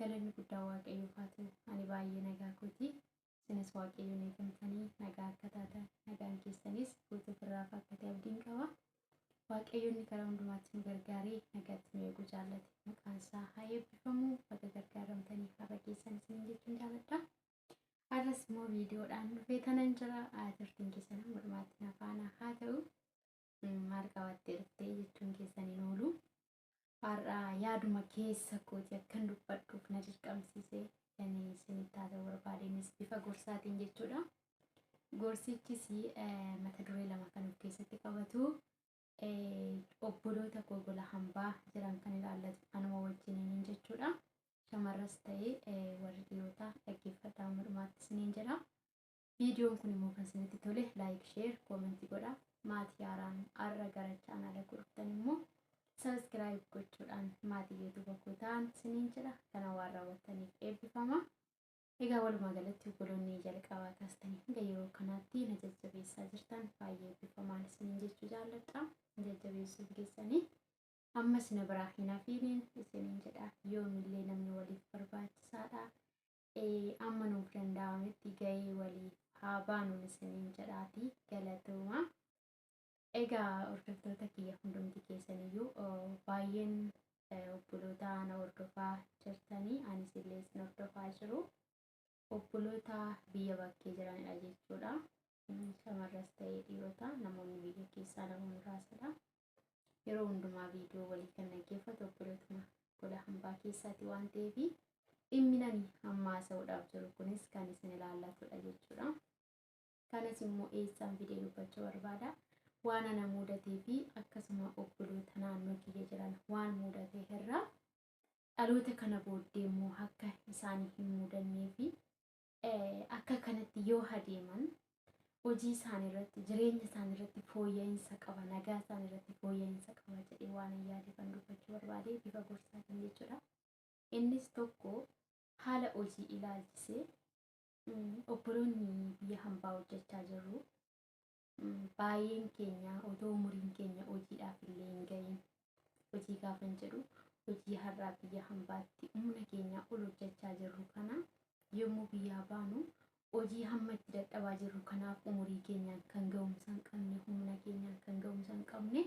Galanni guddaa Waaqayyoof haa ta'u. Ani baay'ee nagaa kooti. Isinis Waaqayyoon eegamtanii nagaa akka taatan, nagaan keessanis guutuuf irraaf akka ta'e abdiin qaba. Waaqayyoonni karaa hundumaatti nu gargaaree nagaatti nu eeguu jaallate. Maqaan isaa haa eebbifamu. Baga gargaaramtanii har'a keessan isiniin jechuun jaalladha. Har'as immoo viidiyoodhaan dhufee tanan jira. Turtiin keessan amma dhumaatti na faana haa ta'u. Maal qabattee dhuftee jechuun keessan hin oolu. Har'a yaaduma keessa kooti akkan dubbadhuuf na dirqamsiise kan isinitti haasa'uu barbaade innis bifa gorsaatiin jechuudha. Gorsichis eh, mata duree lama kan of keessatti qabatu eh, obboloota koo gola hambaa jiran kan ilaallatu anuma wajjiniin jechuudha. Shamarras ta'ee eh, warri dhiyootaa dhaggeeffadhaa amma dhumaatti isiniin jedha. Viidiyoon kun immoo kan isinitti tole laayik, sheer, koomentii godha. Maatii haaraan har'a gara chaanaala koo dhuftan immoo sabiskiraayib gochuudhaan maatii yuutuuba koo ta'aa isiniin jedha. Kana waan raawwattaniif eebbifama. Egaa walumaa galatti obboloonni jalqabaa kaastanii hanga yeroo kanaatti na jajjabeessaa jirtan baay'ee eebbifamaa isiniin jechuu jaalladha. Na jajjabeessuun keessanii ammas na biraa hin hafiiniin isiniin jedha. Yoomillee namni waliif barbaachisaadha. amma nuuf danda'ametti ga'ee walii haa baanu isiniin jedhaati galatooma. Egaa hordoftoota kiyya hundumti keessaniyyuu baay'een obboloota ana hordofaa jirtanii anis illee isin hordofaa jiru. Obboloota biyya bakkee jiranidha jechuudha. Shamarras ta'ee dhiirota namoonni biyya keessaa nama muraasadha. yeroo hundumaa viidiyoo walii kan dhaggeeffatu obboleetuma gola hambaa keessaati waan ta'eef dhimmi nani amma haasa'uudhaaf jiru kunis kan isin ilaallatudha jechuudha. Kanas immoo eessaan fidee dubbachuu barbaada. Waan ana muudatee fi akkasuma obboloota naannoo kiyya jiran waan muudate irraa dhaloota kana booddee immoo akka isaanii hin muudannee fi akka kanatti yoo hadeeman hojii isaanii irratti jireenya isaanii irratti fooyya'insa qaba nagaa isaanii irratti fooyya'insa qaba jedhee waan hin yaade kan dubbachuu barbaade bifa gorsaatiin jechuudha. Innis tokko haala hojii ilaalchisee obboloonni biyya hambaa hojjechaa jirru baay'een keenya otoo umuriin keenya hojiidhaaf illee hin ga'iin hojii gaafan jedhu hojii har'aa biyya hambaatti humna keenyaa ol hojjechaa jirru kana yommuu biyyaa baanu hojii hamma itti dadhabaa jirru kanaaf umurii keenyaan kan ga'umsa hin qabne humna keenyaan kan ga'umsa hin qabne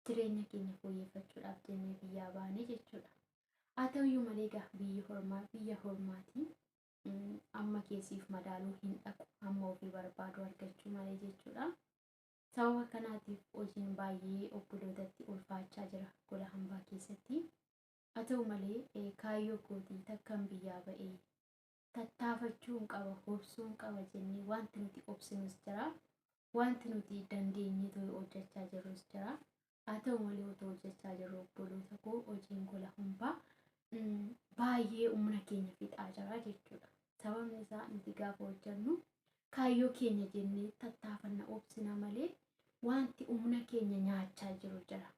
jireenya keenya fooyyeffachuudhaaf jennee biyyaa baane jechuudha. Haa ta'uyyuu malee egaa biyyi hormaa biyya hormaatiin amma kee siif madaaluu hin dhaqu hamma ofii barbaadu argachuu malee jechuudha. Sababa kanaatiif hojiin baay'ee obbolootatti ulfaachaa jira gola hambaa keessatti. Haa ta'u malee kaayyoo kootii takkan biyyaa ba'ee tattaafachuun qaba hobsuun qaba jennee wanti nuti obsinus jira. Wanti nuti dandeenyee to'ee hojjechaa jirrus jira. haa ta'u malee otoo hojjechaa jirru obboloota koo hojiin gola humbaa mm, baay'ee humna keenya fixaa jira jechuudha. Sababni isaa nuti gaafa hojjennu kaayyoo keenya jennee tattaafanna obsina malee wanti humna keenya nyaachaa jiru jira.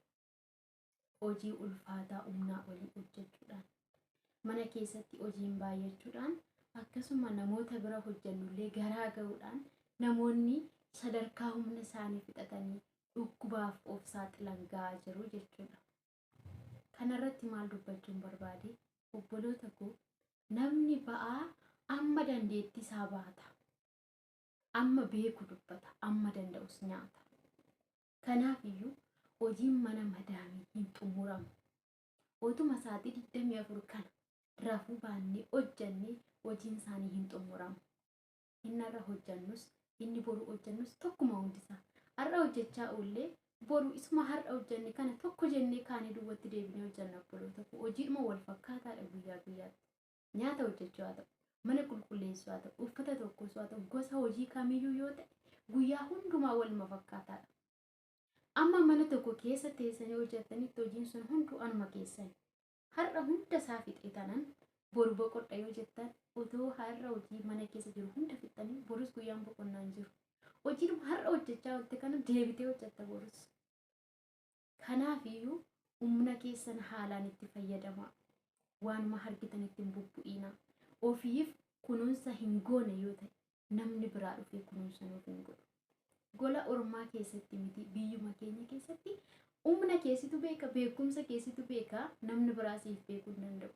Hojii ulfaataa humnaa olii hojjechuudhaan mana keessatti hojiin baay'achuudhaan akkasuma namoota bira hojjannullee garaa ga'uudhaan namoonni sadarkaa humna isaanii fixatanii dhukkubaaf of saaxilan ga'aa jiru jechuudha. Kanarratti maal dubbachuun barbaade? Obboloota koo namni ba'aa amma dandeettii isaa baata. Amma beeku dubbata, amma danda'us nyaata. Kanaaf iyyuu hojiin mana madaamii hin xumuramu. otuma sa'aatii 24 kana rafuu baannee hojjannee hojiin isaanii hin xumuramu. Inni har'a hojjannus inni boru hojjannus tokkuma hundisaa. Har'a hojjechaa oollee boru isuma har'a hojjanne kana tokko jennee kaanee duwwatti deebinee hojjanna obboloota koo. Hojiidhuma wal fakkaataadha guyyaa guyyaatti. Nyaata hojjechuu haa ta'u, mana qulqulleessuu haa ta'u, uffata tokkos haa ta'u, gosa hojii kamiyyuu yoo ta'e guyyaa hundumaa waluma fakkaataadha. Amma mana tokko keessa teessanii hojjettanitti hojiin sun hunduu anuma keessan. Har'a hunda isaa fixee tanan boru boqodha yoo jettan otoo har'a hojii mana keessa jiru hunda fixxanii borus guyyaan boqonnaa hin jiru. Hojiin har'a hojjechaa oolte kana deebitee hojjetta borus. Kanaafiyyuu humna keessan haalaan itti fayyadamaa. Waanuma argitan ittiin bubbu'iina. Ofiif kunuunsa hin goone yoo ta'e namni biraa dhufee kunuunsa nuuf hin godhu. Gola ormaa keessatti miti biyyuma keenya keessatti humna keessitu beeka beekumsa keessitu beeka namni biraa siif beekuu hin danda'u.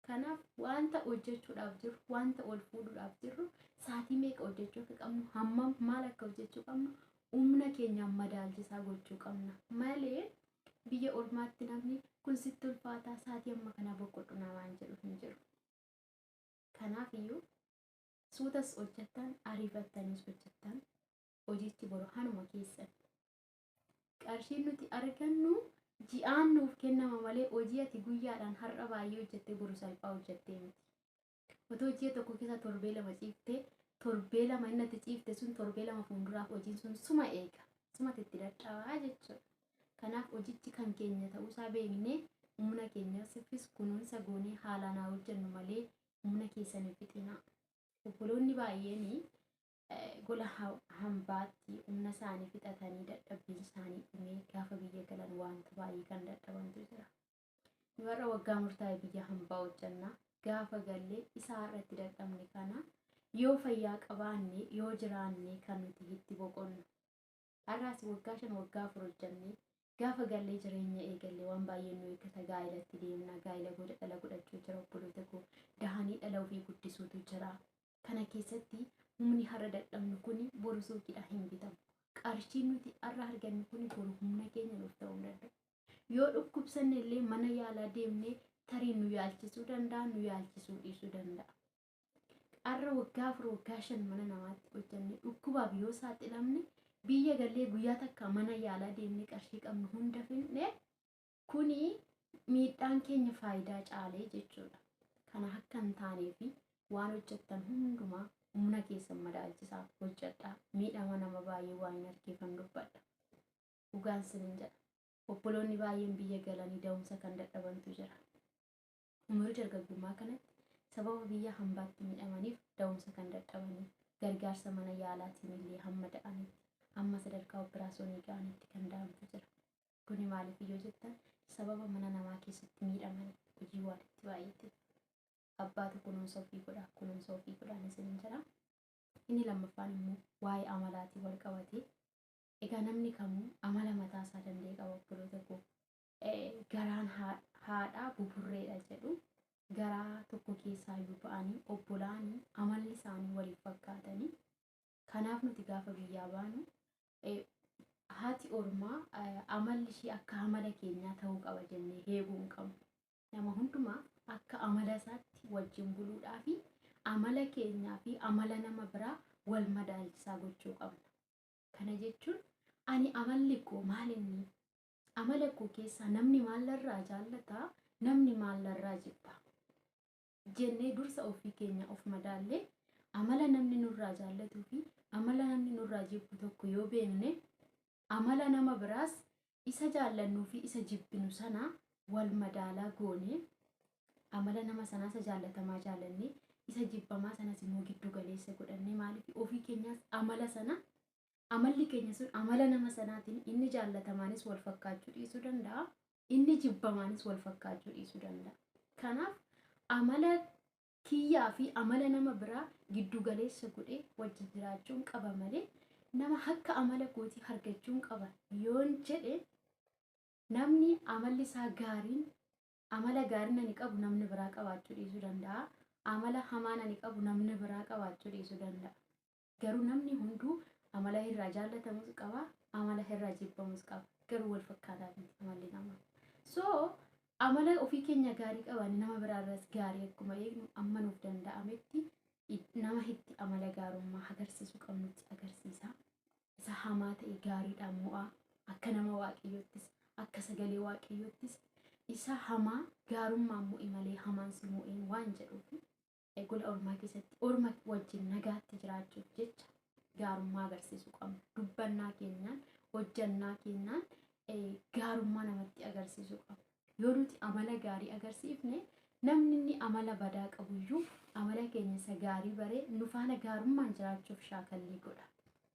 Kanaaf wanta hojjechuudhaaf jirru wanta ol fuudhuudhaaf jirru saatii meeqa hojjechuu akka qabnu hammam maal akka hojjechuu qabnu humna keenyaan madaalchisaa gochuu qabna malee biyya ormaatti namni kun sitti ulfaataa saatii amma kanaa boqodhu namaan jedhu hin jiru. Kanaaf iyyuu suutas hojjettan ariifattanis hojjettan hojichi boru hanuma keessatti qarshiin nuti argannu ji'aan nuuf kennama malee hojii ati guyyaadhaan har'a baay'ee hojjette boru salphaa hojjettee miti. Otoo ji'a tokko keessa torbee lama ciifte torbee lama inni ati ciifte sun torbee lama fuulduraaf hojiin sun suma eega sumati itti dadhabaa jechuudha. Kanaaf hojichi kan keenya ta'uusaa beeknee humna keenya siffis kunuunsa goonee haalaan haa hojjennu malee humna keessan hin fixinaa. Obboloonni baay'een gola hambaatti humna isaanii fixatanii dadhabbiin isaanii dhumee gaafa biyya galan wanta baay'ee kan dadhabantu jira. Nu har'a waggaa murtaa'e biyya hambaa hojjenna. Gaafa gallee isaa irratti dadhabne kana yoo fayyaa qabaanne yoo jiraanne kan nuti itti boqonnu. Har'aas waggaa shan waggaa afur hojjannee gaafa gallee jireenya eegalle waan baay'een nu eeggata gaa'ilatti deemna gaa'ila booda dhala godhachuu jira obboloota koo dahanii dhala ofii guddisuutu jira kana keessatti humni har'a dadhabnu kuni boru suuqiidhaan hin bitamu qarshiin nuti har'a argannu kuni boru humna keenya nuuf ta'uu hin danda'u yoo dhukkubsanne illee mana yaalaa deemnee tarii nu yaalchisuu danda'a nu yaalchisuu dhiisuu danda'a Har'a waggaa afur waggaa shan mana namaatti hojjannee dhukkubaaf yoo saaxilamne biyya gallee guyyaa takka mana yaalaa deemnee qarshii qabnu hunda fidne kuni miidhaan keenya faayidaa caalee jechuudha. Kana akka hin taanee fi waan hojjettan hundumaa humna keessan madaalchisaa hojjedhaa. Miidhama nama baay'ee waan hin argeefan dubbadha. Dhugaan sinin jedha. Obboloonni baay'een biyya galanii da'umsa kan dadhabantu jira. Umurii dargaggummaa kanatti sababa biyya hambaatti miidhamaniif da'umsa kan dadhabaniif gargaarsa mana yaalaatiin illee hamma da'anitti hamma sadarkaa oppiraasoonii ga'anitti kan da'antu jira. Kuni maaliif yoo jettan sababa mana namaa keessatti miidhamani hojii waan itti baay'ateef. Abbaatu kunuunsa ofii godha kunuunsa ofii godhaan isiniin jedha. Inni lammaffaan immoo waa'ee amalaatiin wal qabatee egaa namni kamuu amala mataa isaa danda'e qaba obboloota koo. garaan haadhaa buburreedha jedhu garaa tokko keessaa yoo ba'anii obbolaanii amalli isaanii waliif fakkaatanii kanaaf nuti gaafa biyyaa baanu haati ormaa amalli ishii akka amala keenyaa ta'uu qaba jennee heeguu hin qabnu. Nama hundumaa akka amala isaatti wajjin buluudhaa fi amala keenyaa fi amala nama biraa wal madaalchisaa gochuu qabna. Kana jechuun ani amalli koo maal inni Amala koo keessaa namni maal narraa jaallata, namni maal narraa jibba jennee dursa ofii keenya of madaallee amala namni nurraa jaallatuu fi amala namni nurraa jibbu tokko yoo beekne amala nama biraas isa jaallannuu fi isa jibbinu sana wal madaalaa goone amala nama sanaa isa jaallatamaa jaallannee isa jibbamaa sanas immoo giddu galeessa godhannee maaliif ofii keenyaas amala sana amalli keenya sun amala nama sanaatiin inni jaallatamaanis wal fakkaachuu dhiisuu danda'a. Inni jibbamaanis wal fakkaachuu dhiisuu danda'a. Kanaaf amala kiyyaa fi amala nama biraa giddu galeessa godhee wajji jiraachuun qaba malee nama akka amala kootii argachuun qaba yoon jedhe namni amalli isaa gaariin amala gaariin ani qabu namni biraa qabaachuu dhiisuu danda'a. Amala hamaan ani qabu namni biraa qabaachuu dhiisuu danda'a. Garuu namni hunduu amala irraa jaallatamus qaba, amala irraa jibbamus qaba. Garuu wal fakkaataa miti amalli namaa. So amala ofii keenya gaarii qabaanne nama biraa irraas gaarii akkuma eegnu amma nuuf danda'ametti it- nama itti amala gaarummaa agarsiisuu qabnutti agarsiisa. Isa hamaa ta'e gaariidhaan mo'aa akka nama waaqayyoottis akka sagalee waaqayyoottis isa hamaa gaarummaan mo'i malee hamaan si mo'een waan jedhuufi. gola ormaa keessatti orma wajjin nagaatti jiraachuuf jecha gaarummaa agarsiisuu qabna. Dubbannaa keenyaan, hojjannaa keenyaan gaarummaa namatti agarsiisuu qabna. Yoo nuti amala gaarii agarsiifne namni inni amala badaa qabuyyuu amala keenya isa gaarii baree nu faana gaarummaan jiraachuuf shaakallii godha.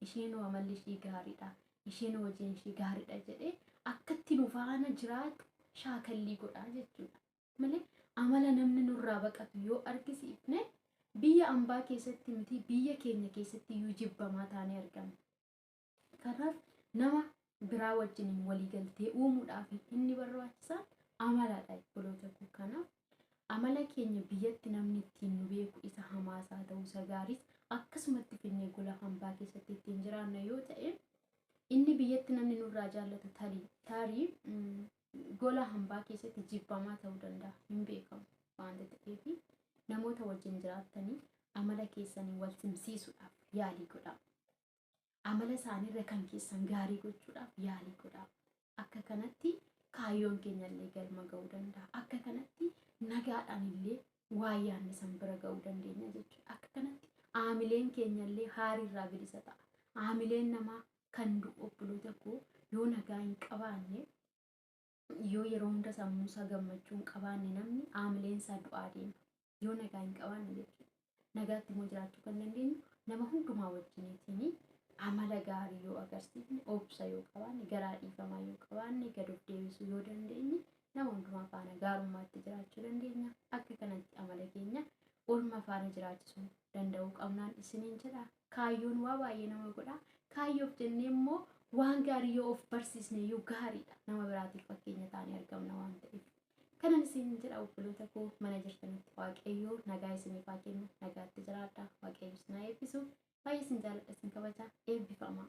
Isheen amalli ishii gaariidha. Isheen hojiin ishii gaariidha jedhee akkatti nu faana jiraatu shaakallii godha jechuudha. malee amala namni nurraa baqatu yoo argisiifne biyya ambaa keessatti miti biyya keenya keessatti iyyuu jibbamaa taanee argama. Kanaaf nama biraa wajjiniin waliigaltee uumuudhaaf inni barbaachisaan amaladha obboloota koo kanaaf amala keenya biyyatti namni ittiin nu beeku isa hamaas haa ta'u isa gaariis akkasumatti finnee gola hambaa keessatti ittiin jiraanna yoo ta'e inni biyyatti namni nurraa jaallatu tarii tarii gola hambaa keessatti jibbamaa ta'uu danda'a hin beekamu waanta ta'eef namoota wajjin jiraattanii amala keessanii wal simsiisuudhaaf yaalii godhaa. Amala isaaniirra kan keessan gaarii gochuudhaaf yaalii godhaa. Akka kanatti kaayyoon keenya illee galma ga'uu danda'a. Akka kanatti nagaadhaan illee waa yaadne san bira ga'uu dandeenya jechuudha. Akka kanatti aamileen keenya illee haariirraa bilisa ta'a. Aamileen namaa kan du'u obboloota koo yoo nagaa hin qabaanne yoo yeroo hunda sammuu isaa gammachuu hin qabaanne namni aamileen isaa du'aa deema. Yoo nagaa hin qabaanne jechuudha. Nagaatti immoo jiraachuu kan dandeenyu nama hundumaa wajjiniitiin amala gaarii yoo agarsiifne, obsa yoo qabaanne, garaa dhiifamaa yoo qabaanne, gad of deebisuu yoo dandeenye nama hundumaa faana gaarummaatti jiraachuu dandeenya. Akka kanatti amala keenya olma faana jiraachisuu danda'uu qabnaan isiniin jedha. Kaayyoon waa baay'ee nama godha. Kaayyoof jennee immoo waan gaarii yoo of barsiisne iyyuu gaariidha. Nama biraatiif fakkeenya taanee argamna waan ta'eef. Kanan isin jedha obboloota koo mana jirtanitti Waaqayyoo nagaa isiniif haa kennu. Nagaatti jiraadha. Waaqayyo isin haa eebbisu. Baay'ee isin jaaladha isin kabaja. Eebbifamaa.